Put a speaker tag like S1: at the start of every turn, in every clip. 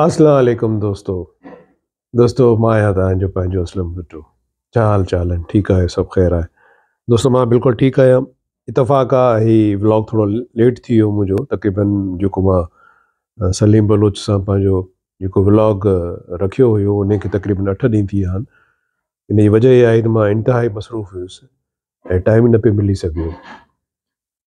S1: اسلام عليڪم دوستو دوستو مان آهيان تهانجو پنهنجو اسلم ڀٽو ڇا حال چال آهن ٺيڪ آهيو سڀ خير آهي دوستو مان بلڪل ٺيڪ آهيان اتفاق آهي هي ولاگ ٿورو ليٽ ٿي ويو منهنجو تقريبن جيڪو مان سليم بلوچ سان پنهنجو جيڪو ولاگ رکيو هيو ان کي تقريبن اٺ ڏينهن ٿي ويا آهن ان جي وجه اها آهي ته مان انتهائي مصروف هيس ۽ ٽائم نه پيو ملي سگهيو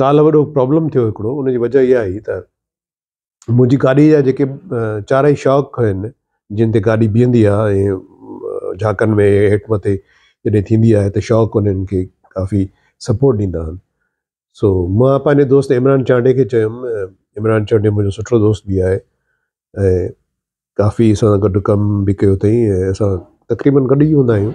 S1: ڪالهه وڏو پرابلم ٿيو هڪڙو ان جي وجهه اها هئي ته منهنجي گاڏي جا جيڪي چارئي شاڪ هين جن تي گاڏي بيهندي آهي ۽ جهاڪن ۾ هيٺ مٿي جڏهن ٿيندي آهي ته شاڪ انهن کي ڪافي سپورٽ ڏيندا آهن سو مان پنهنجي دوست عمران چانڊي کي چيم عمران چانڊي منهنجو سٺو دوست به آهي ۽ ڪافي اسان گڏ ڪم به ڪيو اٿئي ۽ اسان تقريبن گڏ ئي هوندا آهيون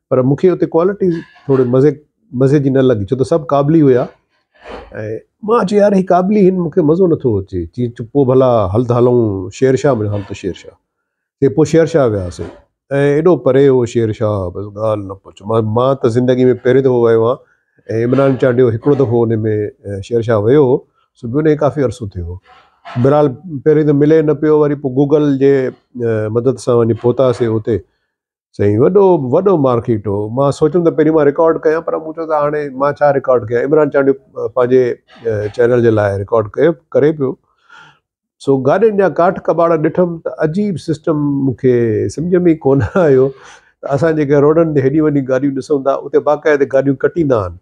S1: پر مون کي اتي ڪوالٽي ٿوري مزي مزي جي نه لڳي ڇو ته سڀ قابلي هيا ۽ مان چيو يار هي قابلي هن مون کي مزو نٿو اچي چي چپ پو ڀلا هل ته هلون شير شاهه مڙي هل ته شير شاهه چي پو شير شاهه وياسي ۽ ايڏو پري هو شير شاهه بس ڳالهه نه پڇ مان مان ته زندگي ۾ پهرين دفعو ويو آهيان ۽ عمران چانڊيو هڪڙو دفعو ان ۾ شير شاهه ويو هو سو به ان ڪافي عرصو ٿيو هو بهرحال پهرين ته ملي نه پيو وري پو گوگل جي مدد سان وڃي پهتاسي اتي سائين وڏو وڏو مارڪيٽ هو مان سوچيم ته پهرين مان رڪارڊ ڪيان پر مون چيو ته هاڻي مان ڇا رڪارڊ ڪيان عمران چانڊيو پنهنجي چينل جي لاء رڪارڊ ڪيو ڪري پيو سو گاڏين جا ڪاٺ ڪٻاڙا ڏٺم ته عجيب سسٽم مون کي سمجهه ۾ ڪونه آيو ته اسان جيڪي روڊن تي هيڏي وڏي گاڏيون ڏسون ٿا اتي باقاعده گاڏيون ڪٽيندا آهن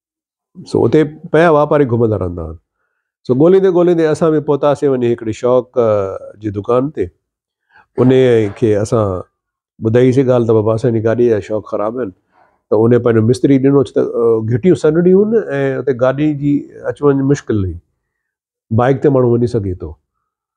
S1: سو اتي پيا واپاري گهمندا رهندا هئا سو ڳولهيندي ڳولهيندي اسان به پهتاسي وڃي هڪڙي شوق جي دڪان تي ان کي اسان ٻڌائي سي ڳالهه ته بابا اسان جي گاڏي جا شوق خراب آهن ته ان پنهنجو مستري ڏنو ته گهٽيون سنهڙيون هن ۽ اتي گاڏي جي اچ وڃ مشڪل هئي بائڪ تي ماڻهو وڃي سگهي ٿو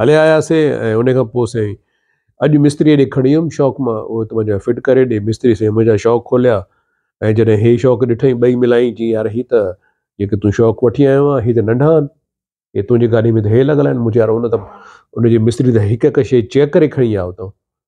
S1: هليا آياسين ۽ ان کان پوء سائين اڄ مستريء ڏي کڻي ويم شوق مان اهو ته منهنجا فٽ ڪري ڏي مستري سائين منهنجا شوق کوليا ۽ جڏهن هي شوق ڏٺائين ٻئي ملائين چيائين يار هي ته جيڪي تون شوق وٺي آيو آهين هي ته ننڍا آهن هي تنهنجي گاڏي ۾ ته هي لڳل آهن مون چيو يار ان ته ان جي مستري ته هڪ هڪ شيء چيڪ ڪري کڻي آيو اٿو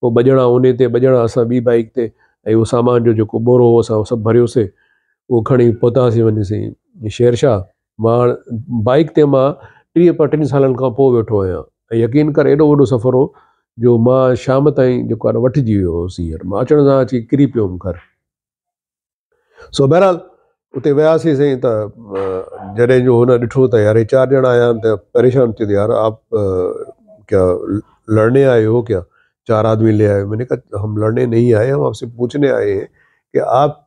S1: پوء ٻه ڄڻا اوني تي ٻه ڄڻا اسان ٻي بائيڪ تي ۽ اهو سامان جو جيڪو ٻورو هو اسان سڀ ڀريوسي اهو کڻي پهتاسي وڃي سين شيرشاه مان بائيڪ تي مان ٽيهه پٽين سالن کان پوء ويٺو آهيان ۽ يقين ڪر ايڏو وڏو سفر هو جو مان شام تائين جيڪو آهي وٺجي ويو هوس هينئر مان اچڻ سان اچي ڪري پيو هوم گهر سو بهرحال اتي وياسين سائين ته جڏهن جو هن ڏٺو ته يار هي چار ڄڻا آيا آهن ته پريشان چي يار آپ ڪيا لڙني آئي هو ڪيا چار آدمي لي آئي مين ڪها هم لڙني نهي آئي هم آپ سي پوڇني آئي هين ڪي آپ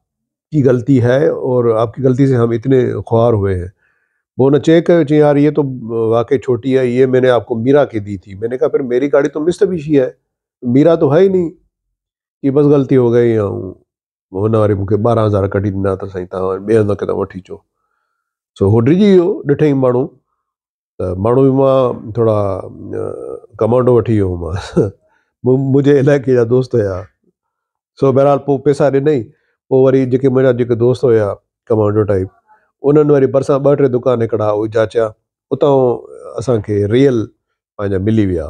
S1: ڪي غلطي هي اور آپ ڪي غلطي سي هم اتني خوار هوئي هين پو هن چيڪ ڪيو چي يار هي تو واقعي ڇوٽي هي هي مين آپ ڪو ميرا ڪي دي ٿي مين ڪها پھر ميري گاڙي تو مستبيشي هي ميرا تو هي ئي نهي ڪي بس غلطي هو گئي مون هن واري مون کي ٻارهن هزار ڪڍي ڏنا ته سائين توهان ٻئي هنڌ کان وٺي اچو سو هو ڊڄي ويو ڏٺئي ماڻهو ته ماڻهو به مان ٿورا ڪمانڊو وٺي ويو هومانس منهنجي علائقي جا دوست هيا سو بهرحال پوء پيسا ڏنئي پوء وري جيڪي منهنجا جيڪي دوست هيا ڪمانڊو ٽائيپ انهن وري ڀرسان ٻه ٽي دڪان هڪڙا اهي جاچيا اتان اسانکي ريل پنهنجا ملي ويا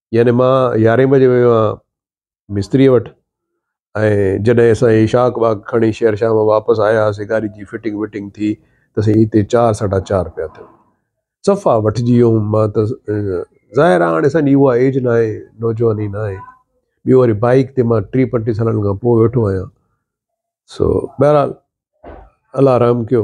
S1: يعني مان يارهين بجي ويو آهيان مستريء وٽ ۽ جڏهن اسان اشاق باغ کڻي شير شاهه مان واپس آياسين گاڏي جي فٽنگ وٽنگ ٿي ته سائين هتي چار ساڍا چار پيا ٿيو صفا وٺجي ويو هوم مان ته ظاهر آهي هاڻي اسان جي اها ايج نه آهي نوجواني نه آهي ٻيو وري بائيڪ تي مان ٽي پنٽيهه سالن کان پوء ويٺو آهيان سو بهرحال الله رحم ڪيو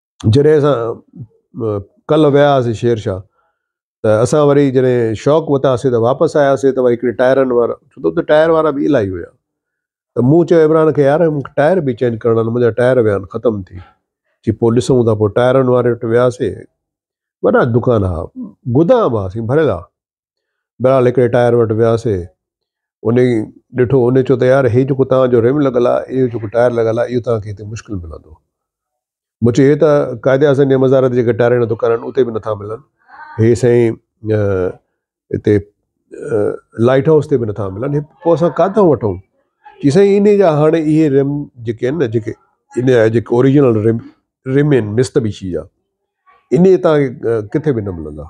S1: جڏهن اسان ڪلهه ويا هئاسين شير شاهه ته اسان وري جڏهن شوق وتاسين ته واپس آياسين ته وري هڪڙي ٽائرن وارا ڇو ته اتي ٽائر وارا به الائي هيا ته مون چيو عمران کي يار مون کي ٽائر به چينج ڪرڻا آهن منهنجا ٽائر ويا آهن ختم ٿي چي پوء ڏسون ٿا پوء ٽائرن واري وٽ وياسين وڏا دڪان هئا گدام هئا سائين ڀريل هئا بھرحال ھڪڙي ٽائر وٽ وياسي انھي ڏٺو انھي چيو ته يار ھي جيڪو توھان جو رم لڳل آ اھو جيڪو ٽائر لڳل آ اھو توھان کي ھتي مشڪل ملندو مون چيو ھي ته قائد اعظم جي مزار تي جيڪي ٽائرن جا دڪان آھن اتي به نٿا ملن ھي سائين ھتي لائيٽ ھائوس تي به نٿا ملن پوء اسان ڪاتان وٺون چي سائين انھي جا ھاڻي اھي رم جيڪي آھن نه جيڪي انھي جا جيڪي اوريجنل رم رم آھن مستبشي جا انھي توھان کي ڪٿي به نه ملندا